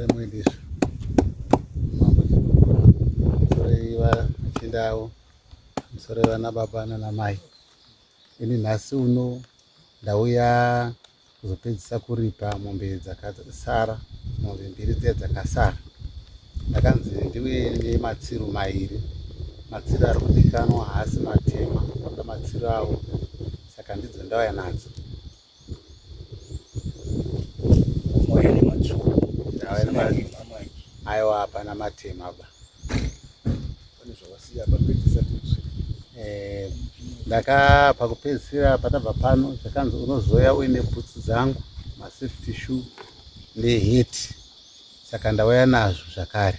remuindizvo sorei vachinda avo sorei vana baba nana mai ini nhasi uno ndauya kuzopedzisa kuripa mombe dzakasara mombe mbiri dziya dzakasara ndakanzi ndiuye nematsiro mairi matsiro ari kudikanwa haasi matema oda matsiro avo saka ndidzo ndauya nadzo aiwa hapana matema ba eh, ndaka pakupedzisira patabva pano zvakanzi unozouya uine bhutsu dzangu masafety shoe neheti saka ndauya nazvo zvakare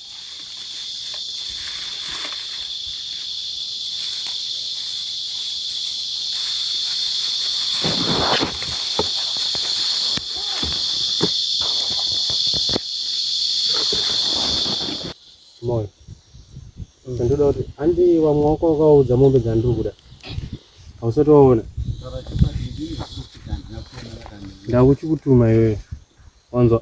moyo ndoda kuti handi vamwe wako wakaudza mombe dzandiri kuda hausati waona ndakuchikutuma iwewe wanzwa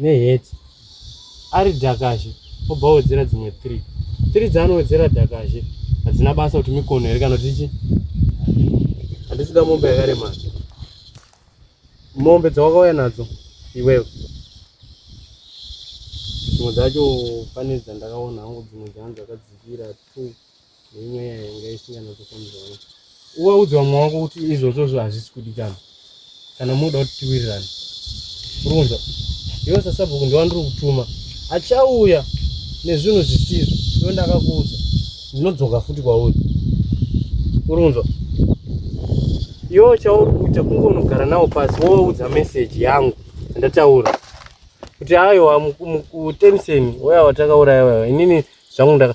neHeadz ari Dakazhe obva awedzera dzimwe 3. 3 dzaanowedzera Dakazhe hadzina basa kuti mikono here kana kuti chi handisida mombe yakaremara mombe dzawakauya nadzo iwewe dzimwe dzacho pane dzandakaona hangu dzimwe dzangu dzakadzikira two nemweya yanga isinganatofambirana uvaudze vamwe wako kuti izvozvozvo hazvisi kudikana kana munoda kuti tiwirirane uronza iwe sasabhuku ndiwandiri kutuma achauya nezvinhu zvisizvo iwe ndakakuudza ndinodzoka futi kwauri uronza iwe chauri kuita kunge unogara nawo pasi wovaudza meseji yangu ndataura kuti aiwa mutemiseni waya watakauraya waya inini zvangu ndaka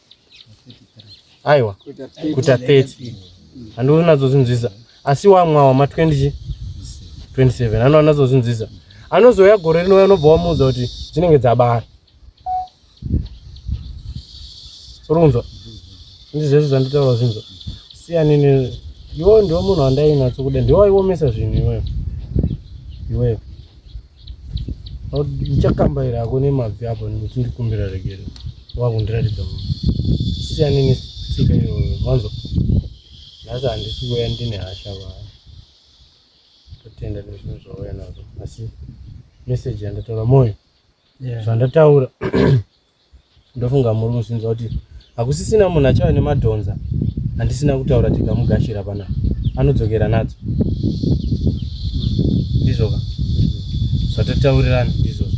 aiwa kuita 30 handioni nazozvinzwisa asi wamwa wama 20 27 ano anazozvinzwisa anozouya gore rinouya anobva wamuudza kuti dzinenge dzabara runzwa ndi zvese zvanditaura zvinzwa siyanini iwo ndiwo munhu wandainatsokuda ndiwaiwomesa zvinhu iweyo iweyo ndichakambaira hako nemabvi apo nekuti ndikumbira regero wakundiratidza mu siyane netsika iyoyo mwanzo nhasi handisi kuya ndine hasha va totenda nezvinhu zvauya nazvo asi meseji yandataura moyo zvandataura yeah. ndofunga muri kuzvinzwa kuti hakusisina munhu achava nemadhonza handisina kutaura tikamugashira pana anodzokera nadzo ndizvoka zvatotaurirana ndizvozvo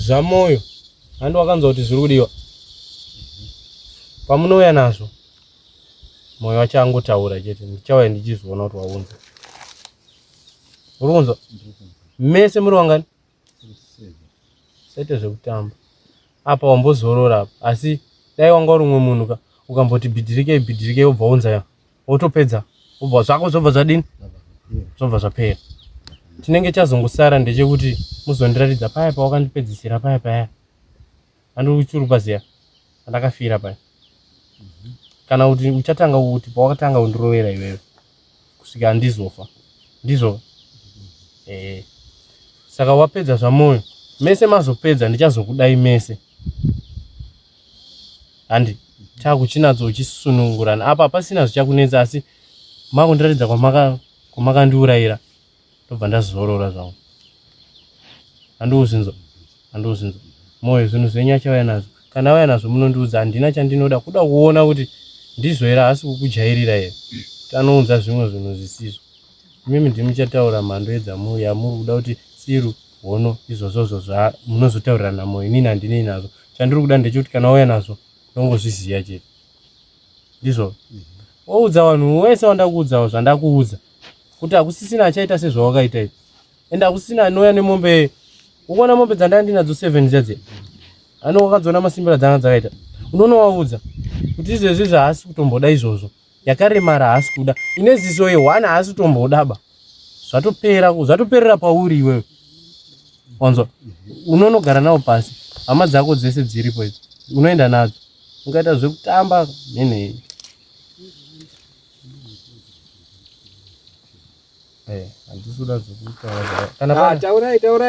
zvamoyo handi wakanzwa kuti zviri kudiwa pamunouya nazvo moyo wacho angotaura chete ndichauya ndichizviona kuti waunza uri kunzwa mese muri wangani saite zvekutamba apa wambozorora apa asi dai wanga uri umwe munhu ka ukamboti bhidhirikei bhidhirikei wobva wonzaya wotopedza wobva zvako zvobva zvadini zvobva zvapera chinenge chazongosara ndechekuti muzondiratidza paya pawakandipedzisira paya paya andiri kuchurupa ziya andakafira paya kana kuti uchatanga kuti pawakatanga kundirovera iwewe kusvika andizofa ndizvo ee saka wapedza zvamoyo mese mazopedza ndichazokudai mese handi chakuchinadzo uchisunungurana apa pasina zvichakunetsa asi makundiratidza kwamakandiurayira ndobva ndazorora zvangu andouzinzwa andouzinzwa moyo zvinhu zvenyu achauya nazvo kana auya nazvo munondiudza handina chandinoda kuda kuona kuti ndizvo here haasi kukujairira here kuti anounza zvimwe zvinhu zvisizvo imimi ndimi muchataura mhando yamuri kuda kuti tsiru hono izvozvozvo zvamunozotaurirana moyo inini handinei nazvo chandiri kuda ndechekuti kana auya nazvo ndongozviziva chete ndizvo woudza vanhu wese wandakuudzawo zvandakuudza kuti hakusisina achaita sezvawakaita izvi ende hakusisina anouya nemombe ukuona mombe dzandanga ndinadzo seven dzadzi ano wakadziona masimbira dzanga dzakaita unoona waudza kuti izvezvi zvahaasi kutomboda izvozvo yakaremara haasi kuda ine ziso ye one haasi kutombodaba zvatopera zvatoperera pauri iwewe wanzwa unonogara nawo pasi hama dzako dzese dziripo idzi unoenda nadzo ungaita zvekutamba nenhei eh, ah,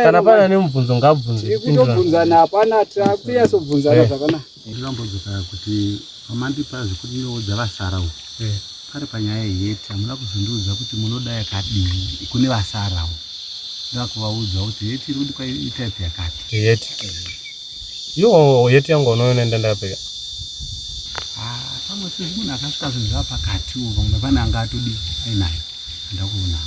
kana pana nemubvunzo ngabvunze kutobvunzana hapana takuyasobvunzana eh. zvakanaka Ndikambodzoka kuti pamandipa zvekuti ndoudza vasara uko. Eh. Pari panyaya yeti hamuna kuzondiudza kuti munoda yakadii kune vasara uko. Ndakuvaudza kuti yeti iri kudikwa itype yakati. Yeti. Yoo yeti yangu unoenda ndapeka. Ah, pamwe sisi munhu akasvika zvinhu zvapakati uko pamwe pane anga atodi ainayo. Ndakuona.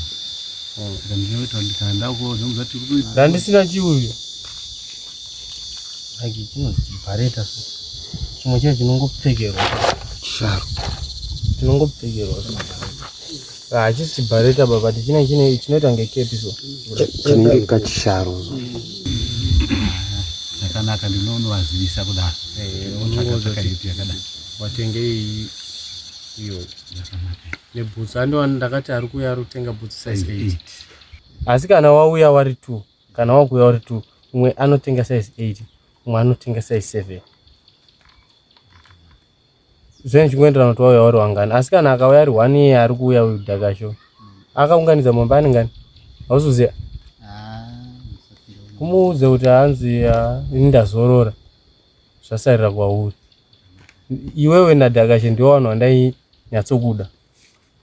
Hmm. Saka ndinoita ndikanda uko ndomuza tiri kuita. Ndandisina chiuyo. Like chinozibhareta so. Chimwe chacho chinongopfekerwa. Charo. Chinongopfekerwa so. Ah, hachisi chibhareta baba ti chine chine chinoita kunge kepi so. Chinenge kachisharo so. Zvakanaka ndinonovazivisa kudaro. Eh, unotsvaka tsvaka hipi yakadaro. Watenge iyi iyo nebhutsu andiwani ndakati ari kuuya ari kutenga bhutsu size eight asi kana wauya wari two Kana wakuya uri two, umwe anotenga size eight, umwe anotenga size seven. Zvinhu zvichingoenderana kuti wauya uri wangani. Asi kana akauya ari one iye ari kuuya uyu Dakasho. Akaunganidza mombe ane ngani? Hausuziva? Kumuudze kuti hanzi ah, ini ndazorora. Zvasarira kwauri. Iwewe naDakasho ndiwo vanhu vandainyatsokuda.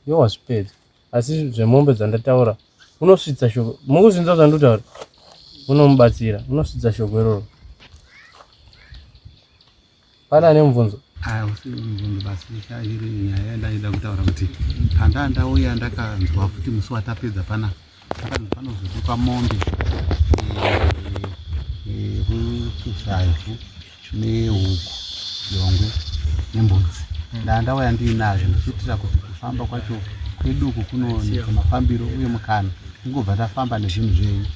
Iwe wazvipedza. asi zvemombe dzandataura unosvitsa shoko mukuzvinza zvandotaura unomubatsira unosvitsa shoko iroro pane ane mubvunzo ah, iri nyaya yandaida kutaura kuti pandaa ndauya ndakanzwa futi musi watapedza pana akanzi panozozikwa mombe eh, eh, eh, yekuchizaifu nehuku jongwe nembudzi ndaa ndauya ndiinazvo ndichiitira kuti kufamba kwacho kwedu uku kunooneka mafambiro uye mukana tingobva tafamba nezvinhu zvenyu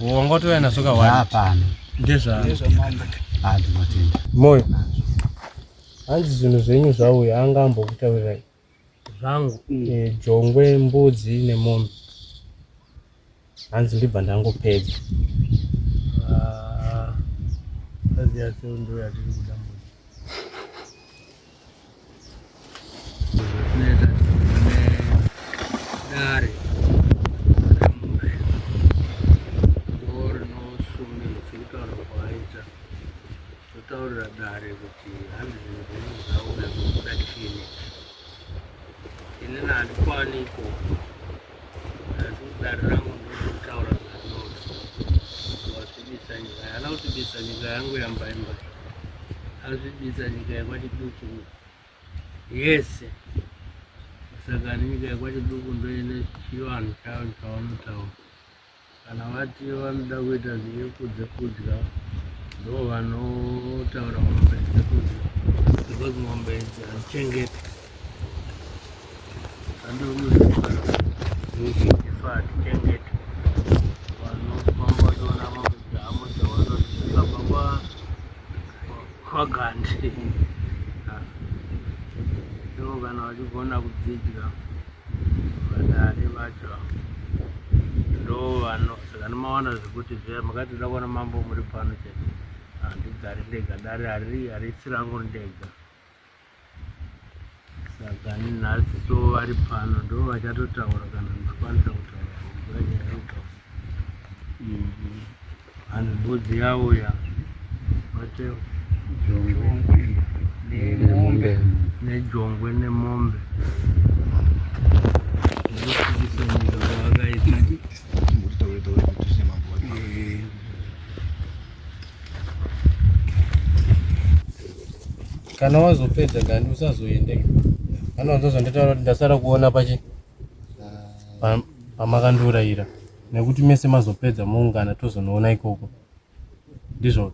wanga utouya nazvo kawanda hapana ndezvaandinotenda moyo hanzi zvinhu zvenyu zvauya anga ambokutaurirai zvangu jongwe mbudzi nemombe hanzi ndibva ndangopedza ah, dare Totaurira dare kuti hanzi zvinhu zvinhu zvauya kuda chini. Inini handikwani iko asi kudare rangu ndinotaura zvanoti wazvibisa nyika yana kutibisa nyika yangu yambaimba azvibisa nyika yakwachiduku yese saka nyika yakwachiduku ndoine chivanhu chayo chawanotaura kana vati vanoda kuita zvinyepo dzekudya ndo vanotaura mombe dzekudya because mombe idzi hatichengeti andikuziifa hatichengeti vanofamba vachiona mombe dzavo dzavanoabva kwagandi ivo kana vachigona kudzidya vadare vacho ndovano saka ndimawana zvekuti zviya makati ndoda kuona mambo muri pano chete handigari ndega dare hariri harisi rangu ndega saka nhasi so vari pano ndo vachatotaura kana ndikwanisa kutaura nyaya yeuka And mbudzi yauya wateo nemombe nejongwe nemombe kana wazopedza gandi usazoende kana wazozonditaura kuti ndasara kuona pachi pamakandiurayira nekuti mese mazopedza moungana tozonoona ikoko ndizvo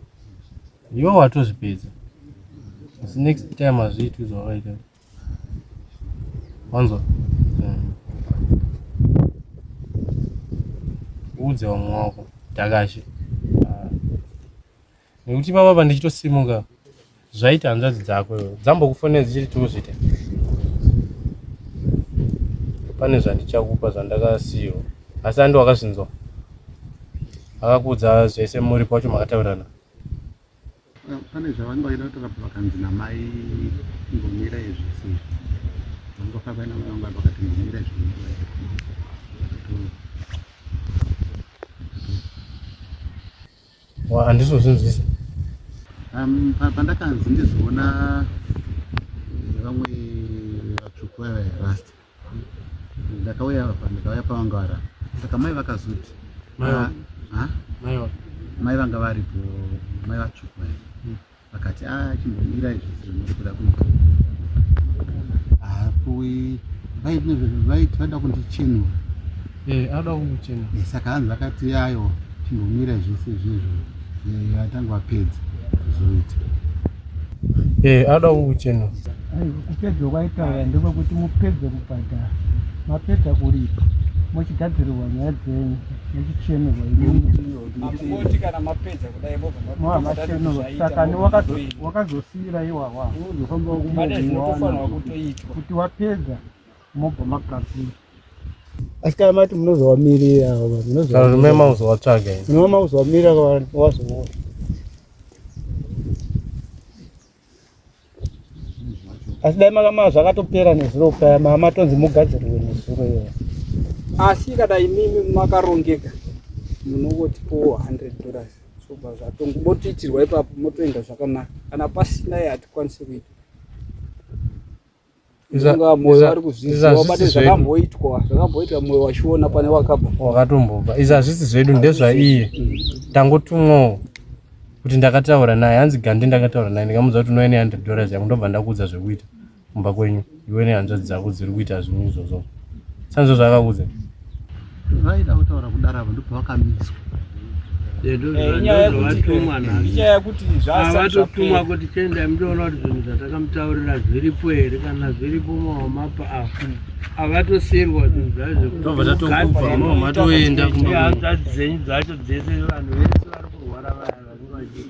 ivo watozvipedza asi next time hazviitwi zvawakaita wanzwa uudze vamwe wako takashe nekuti ipapa pandichitosimuka zvaita hanzvadzi dzako dzambokufonera dzichiti tiuzvita pane zvandichakupa zvandakasiyiwa asi andi wakazvinzwa akakuudza zvese muri kwacho makataurirana pane zvavanga vaida kutora pakanzi namai ngomira izvese vangofabaina mnanga pakati ngomira izvese handizozvinzwisa um, pandakanzi ndizoona eh, vamwe vatsvuku vaya vairasta ndakauya apa ndikauya pavanga vara saka mai vakazoti ah, ah? mai vanga varipo mai vatsvuku vaya hmm. akati a ah, chimbomirai zvese zvamuri kuda kuita hapuwi vaiti vada kundichinwa eh, ada kumuchina eh, saka hanzi vakati yayo chimbomirai zvese izvezvo vatanga vapedza kuzoita eh, ada kumuchina kupedza kwaitauya ndekwekuti mupedze kubhadhara mapedza kuripa mochigadzirirwa nyaya dzenyu mochichenurwa imii kana mapedza sakani wakazosiira iwawa kuti wapedza mobva makapira asi kana mati munozowamirira munozomema uzowatsvaga munoma uzowamirira wazoona asi dai makama zvakatopera nezuro paya mama tonzi mugadzirirwe nezuro iyo asi kana imimi makarongeka munovotipo 100 dollars sobva zvatongo motoitirwa ipapo motoenda zvakanaka kana pasina ye hatikwanisi kuita wakatombobva izvi hazvisi zvedu ndezvaiye mm. tangotumwawo kuti ndakataura naye hanzi gandi ndakataura naye ndikamuudza kuti unoene hundred dollars yangu ndobva ndakuudza zvekuita kumba kwenyu iwe nehanzvadzi dzako dziri kuita zvinhu izvozvo sanizvo zvakakuudza vaida kutaura kudaro avo ndipo vakamiswa eh, inyaya yekuti zvavatotumwa ah, kuti tiendai mutoona kuti zvinhu zvatakamutaurira zviripo here kana zviripo mawamapa avo avatosirwa zvinhu zvazvokugadzirihadzadzi dzenyu dzacho dzese vanhu vese vari kurwara vaya vanenge vachii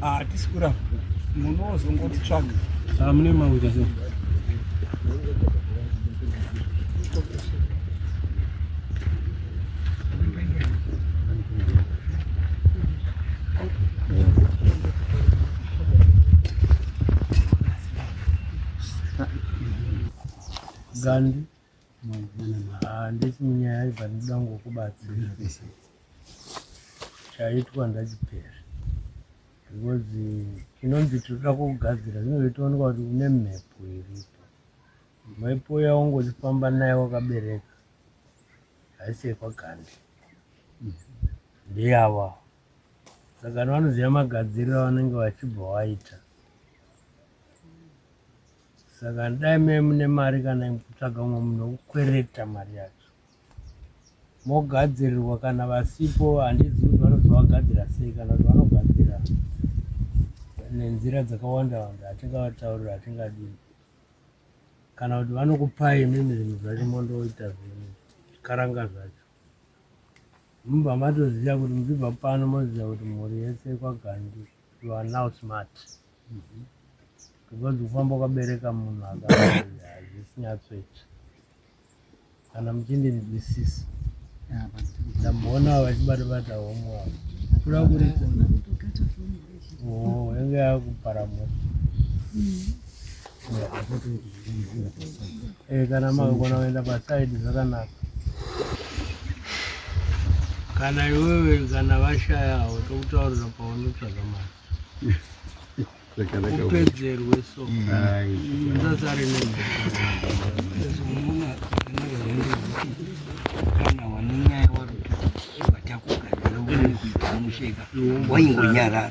Hatisi kuramba. Munozongoti tsvaga. Ah, mune mawira so. Gandhi. handisi munyaya ibva ndoda ngokubatsira chaitwa ndachipera because chinonzi tinoda kugadzira zvinozotoonekwa kuti une mhepo iripo mhepo yaungotifamba naye wakabereka haisi yekwagande ndeyava saka vanoziva magadziriro avanenge vachibva waita Saka dai mai mune mari kana kutsvaga umwe munhu wekukwereta mari yacho mogadzirirwa kana vasipo handizivi kuti vanozovagadzira sei kana kuti vanogadzira nenzira dzakawanda wanda hatingavataurira hatingadii kana kuti vanokupai imimi zvinhu zvacho mondoita zvinhu zvikaranga zvacho mubva matoziva kuti muchibva pano moziva kuti mhuri yese kwagandi you are now smart because kufamba ukabereka munhu akazvisinyatsweti kana muchindinzwisisa ndamboona vachibata bata homu avo kuda kuri oh, yange yakupara moto Eh, kana makagona kuenda pasaidi zvakanaka kana iwewe kana vashayawo tokutaurira paunotsvaga mari upedzerwe so ndasari ne waingonyarara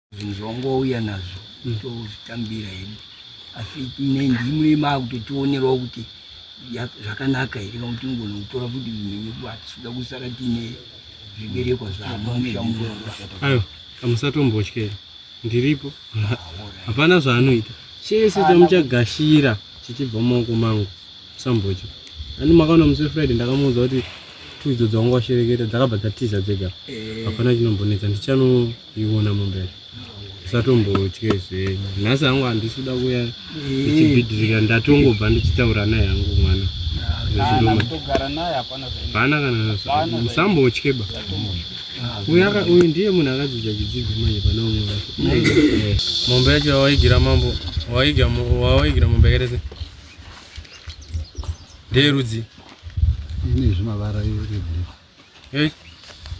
zvinhu zvawangouya nazvo mm. tozvitambira hedu asi ndimune makutotionerawo kuti zvakanaka here kana kuti ngona kutora futi zvinenge kuatisuda kusara tiine zviberekwa zvaanoamushamuayo amusatombotyera ndiripo ah, hapana zvaanoita chese ah, chamuchagashira chichibva mumaoko mangu sambotya ani makaona musi wefriday ndakamuudza kuti tuidzo dzawanga washereketa dzakabva dzatiza dzega eh. hapana chinombonetsa ndichano Iwona mumbere musatombotye zvenyu nhasi hangu handisi kuda kuya ndichibhidhirika ndatongobva ndichitaura naye hangu mwana hapana kana musambotye ba uyu ndiye munhu akadzidza chidzidzo manje pane umwe wacho mombe yacho wawaigira mambo wawaigira mombe yakaita se ndeyerudzi ine zvimavara Hey,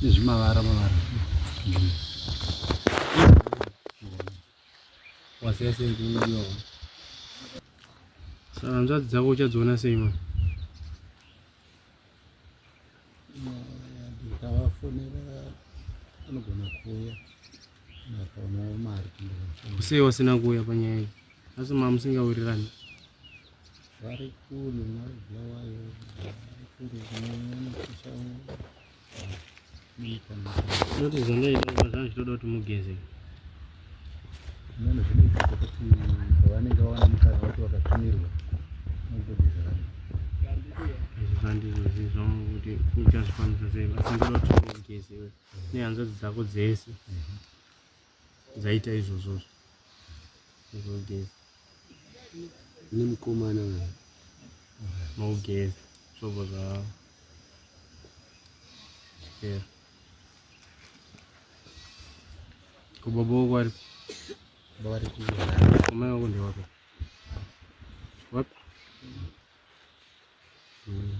izvi mavara mavara. Wasiya sei kuyo. Saka hanzvadzi dzako uchadziona sei mwana? Ndikavafonera anogona kuuya. sei wasina kuuya panyaya iyi asi ma musingawirirani vari kule mabulawayo noti zvandaita kuba zvanga zvitoda kuti mugeze nano zvinoita kuti pavanenge vawana mukana vati vakatumirwa mugezerana zvandizvo zizvo kuti uchazvikwanisa sei asi ndoda kuti mugeze nehanzvadzi dzako dzese dzaita izvozvozvo zvinogeza ine mukomana uyo mogeza zvobo zvavo chikera kubaba wako ari baba ari kumai wako ndewako wapi mm.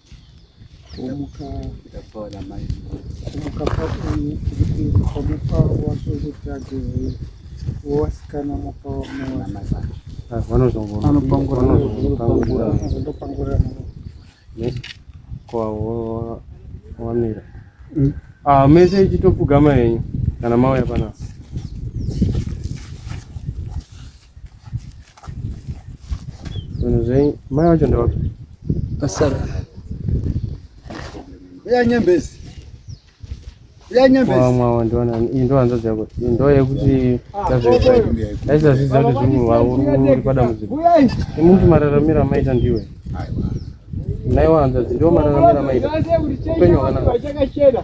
kumuka ndapora mai kumuka pakunye kumuka wacho kutsvage wasikana muka wamawasvanozongopangura kwavo wamira hmm? ah, mese ichitopfugama yenyu kana mauya panapa Zvinhu zvenyu mai wacho ndewaka asara uya nyembezi uya nyembezi wamwawa ndiwana iyi ndo hanzvadzi yako iyi ndo yekuti aizazvidza kuti zvinhu wavo uri padambudziko imuti mararamiro amaita ndiwe naiwa hanzvadzi ndiwo mararamiro amaita upenyu hwakanaka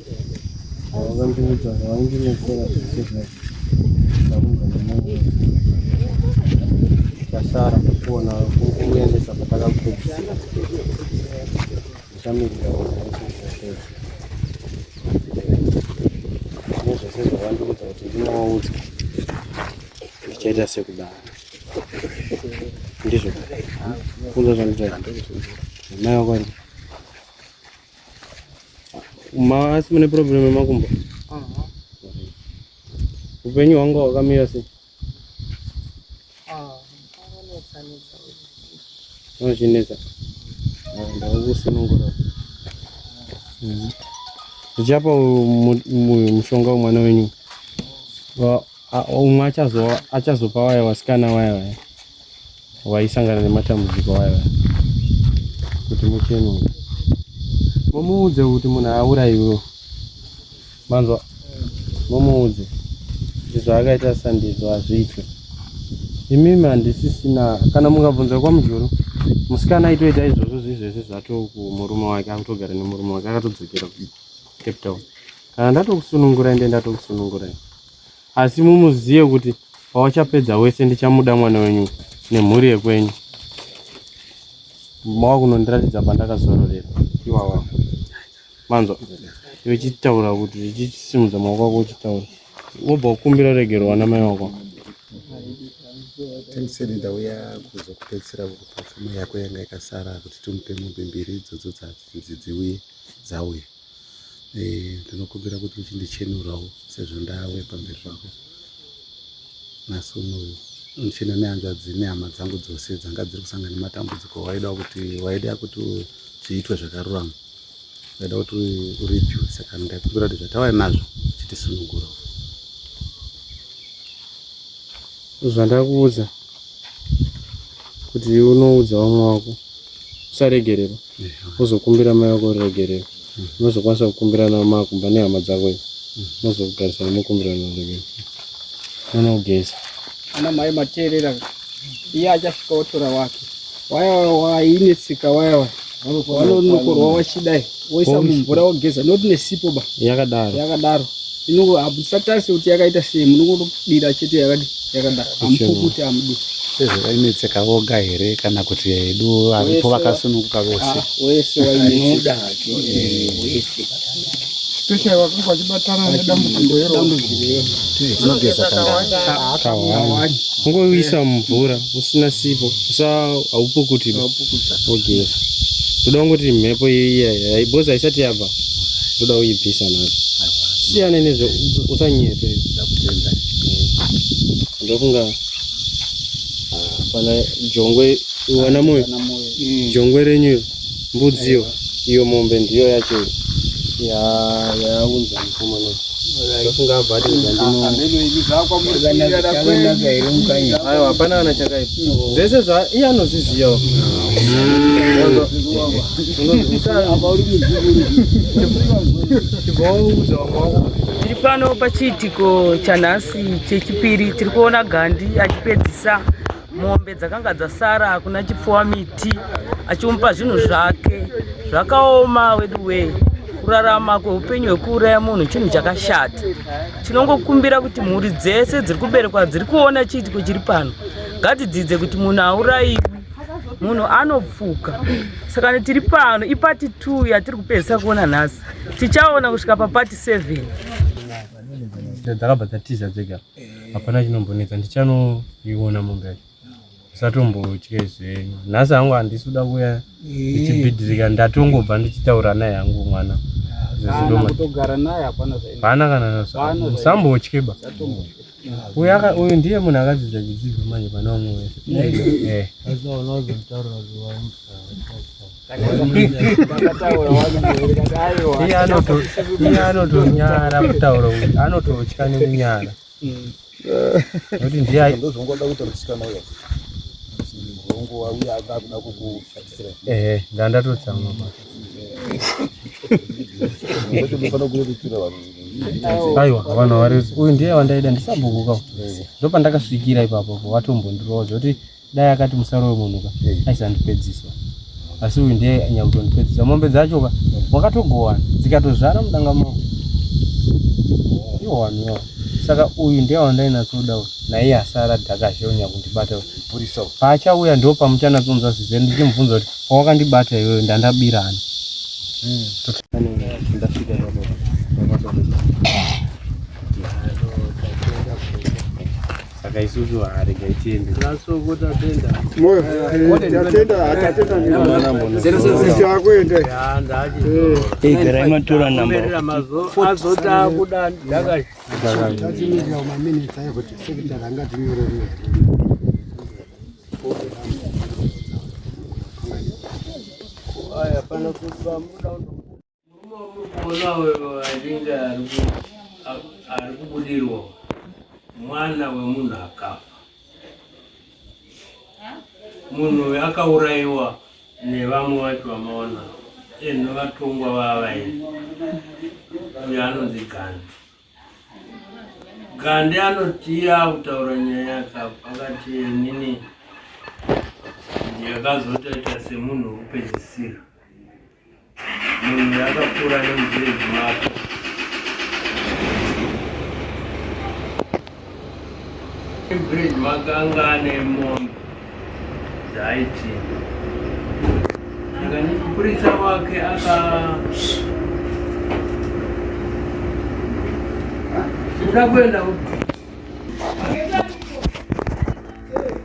vakandiudza zvavandinesera zvese zvese ndakubva nemwoyo tasara kuona kuendesa patakapedzisira ndichamirira nezvese zvavandiudza kuti ndinovaudza zvichaita sekudaro ndizvo kunza zvanditaamai vakwandi Maasi mune problem yemakumbo. Aha. Upenyu hwangu hwakamira sei? Ah, anonetsa netsa. Anochinetsa. Ah, Ndakusunungura. Mhm. Ndichapa mu- mu- mushonga wemwana wenyu. Wa- a- Umwe achazo achazopa waya wasikana waya waya. waisangana nematambudziko aya kuti muchenure mumuudze kuti munhu auraiwe manzwa mumuudze kuti zvaakaita sandizvo hazviitwe imimi handisisina kana mukabvunza kwamujuru musikana aitoita izvozvo zviizvezvi zvato kumurume wake akutogara nemurume wake akatodzokera kucape town kana ndatokusunungurai nde ndatokusunungurai asi mumuzive kuti pawachapedza wese ndichamuda mwana wenyu nemhuri yekwenyu mava kunondiratidza pandakazororera iwawa manzwa iwe chitaura kuti chichisimudza maoko ako uchitaura wobva ukumbira regero wana mai wako tendiseni ndauya kuzokupedzisira kukupa pfuma yako yanga ikasara kuti timupe mombe mbiri idzodzo dzanzi dziuye dzauya Eh, ndinokumbira kuti uchindichenurawo sezvo ndawe pamberi pako nhasi unoyu ndichina nehanzvadzi nehama dzangu dzose dzanga dziri kusangana nematambudziko waida kuti waida kuti zviitwe zvakarurama waida kuti uripiwe saka ndakumbira kuti zvatawai nazvo chitisunugura zvandakuudza kuti unoudza vamwe wako usaregererwa wozokumbira mai wako ruregerero unozokwanisa kukumbirana makumba nehama dzako ivo mozogarisana mokumbirana ruregerero mwana wogeza ana mai mateerera iye achasvika wotora wake waya wainetsika waya waya vanonokorwa wachidai woisa mumvura wogeza not nesipo ba yakadaro yakadaro inongo hamusatase kuti yakaita sei munongodira chete yakati yakadaro amupukuti amudu sezvo vainetseka voga here kana kuti edu varipo vakasununguka vose ah, wese wainoda hake wese special vakanga vachibatana nedambudziko iro unogeza kawani ungoisa mumvura usina sipo sa haupukuti ugeza ndoda kungoti mhepo iya because haisati yabva ndoda uibvisa nayo siyane nezve usanyepe ndofunga ah, pana jongwe wana moyo jongwe renyu Mbudziyo iyo mombe ndiyo yacho yaunza mukomana ndofunga abva atiaiwa hapana kana chakaipa zvese zva iye anozvizivawo chigoudza wamwe wako tiri pano pachiitiko chanhasi chechipiri tiri kuona gandi achipedzisa mombe dzakanga dzasara hakuna chipfuwa miti achimupa zvinhu zvake zvakaoma wedu wee kurarama kweupenyu hwekuuraya munhu chinhu chakashata tinongokumbira kuti mhuri dzese dziri kuberekwa dziri kuona chiitiko chiri pano ngadzidzidze kuti munhu aurayiwi munhu anopfuka saka tiri pano ipati t yatiri kupedzisa kuona nhasi tichaona kusvika papati 7 dzakabva dzatiza dzega hapana chinombonetsa ndichanoiona mombe yacho musatombotye zvenyu nhasi hangu handisi kuda kuya ndichibhidhirika ndatongobva ndichitaura naye hangu mwana hapana kana musambotye ba uyu ndiye munhu akadzidza chidzidzo manje pane vamwe wese iye anotonyara kutaura anototya nekunyara nekuti ndiye ndozongoda kuti musikana uya murongo wauya akakuda kukushatisira ehe ndandatotsamwa pa aiwa vanhu vari uyu ndiye wandaida ndisabhukuka ndopandakasvikira ipapo watombondirowa zvekuti dai akati musarowe munhu ka hey. Eh. aisandipedziswa asi uyu ndiye anyakutondipedzisa mombe dzacho ka eh. wakatogowana dzikatozvara mudanga mavo iwaniwa saka uyu ndiye wandainatsoda uyu naiye asara dhakazhe unyakundibata purisa paachauya ndo pamuchanatsonza zvize ndichimubvunza kuti pawakandibata iyoyo ndandabirani hmm. ndasvika saka isusu haregai tiende igerai matora nambaazotaakuda ndakaiaya pana kuti vamuda Murume wamuri kuona uyo achinge ari kubudirwa mwana wemunhu akafa munhu uyu akaurayiwa nevamwe vacho vamaona enhu vatongwa vavaini uyo anonzi gandi gandi anotiya akutaura nyaya yake akati nini ndiyakazotoita semunhu wekupedzisira Munhu yakapfuura nemudzirezi mako. Bridge makanga ane mombe dzaiti mupurisa wake aka kuda kuenda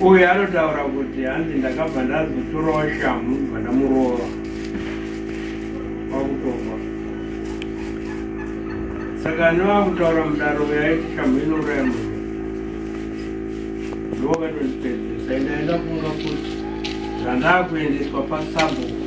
uyu anotaura kuti hanzi ndakabva ndazotorawo shamhu ndibva ndamurova kwakutofa saka nevakutaura mudaro yaiti shamhu inouraya munhu ndovakatondipedzesa ndaenda kunga kuti zvandakuendeswa pasabuku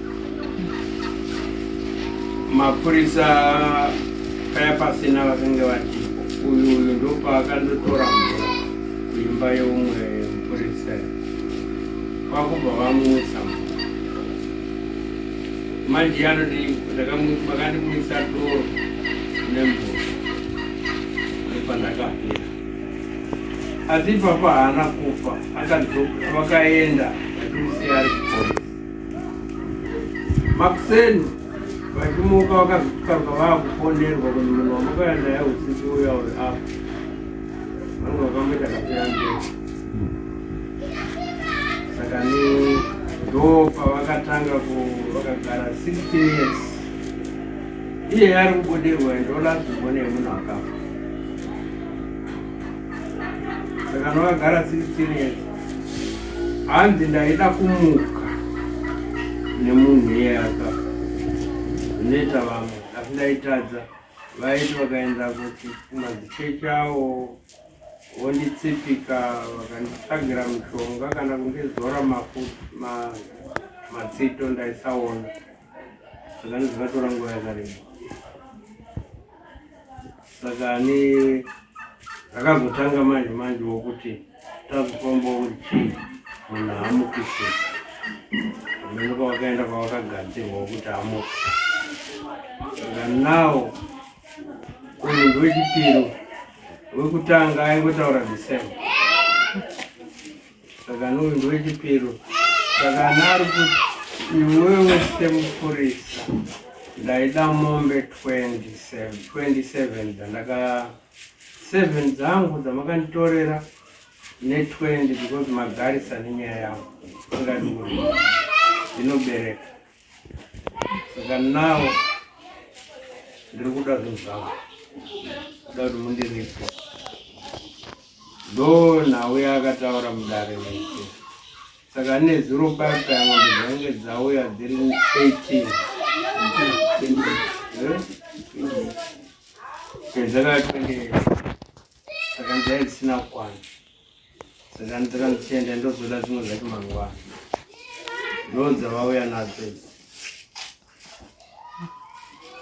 mapurisa paya pasina vakange vatipo uyu uyu ndopaakandotora mvura kuimba yeumwe mupurisa kwakubva vamutsa manje anoti vakandimwisa doro nemvura nepandakapira asi papa haana kufa vakaenda vachimusiya ari kupolisi Makuseni vachimuka vakazvitukarwa vakufonerwa kuti munhu wamukaya naye usiku uya uri apa vanhu vakamboita kapera mberi saka ni ndo pavakatanga ku vakagara 16 years iye ari kubudirwa ndolazivone yemunhu akafa saka ndakagara 16 years hanzi ndaida kumuka nemunhu iyaka neta vamwe asi ndaitadza vaiti vakaenda kuti kumazichechi awo vonditsipika vakanditsvagira mushonga kana kundizora matsito ndaisaona saka ndizovatora nguva yakareba saka ane akazotanga manje manje wokuti tazofamba uri chii munhu haamukise amene kwawakaenda kwawakagadzirwa wokuti amuke saka nawo uyu ndowechipiri wekutanga aingotaura the same saka nouyu ndowechipiro saka anari kuti iwewe semupurisa ndaida mombe 27 dzandaka 7 dzangu dzamakanditorera ne20 because magarisa nenyaya yangu ingadiuri inobereka saka nawo ndiri kuda zvinhu zvangu kuda kuti mundiripwe ndo nhau yaakataura mudare mese saka ane zuro baka ngombe dzainge dzauya dziri 18 dzaka 28 saka dzai dzisina kukwana Saka ndira ndichienda ndozoda zvimwe zvacho mangwana. Ndonza vauya nadzo idzi.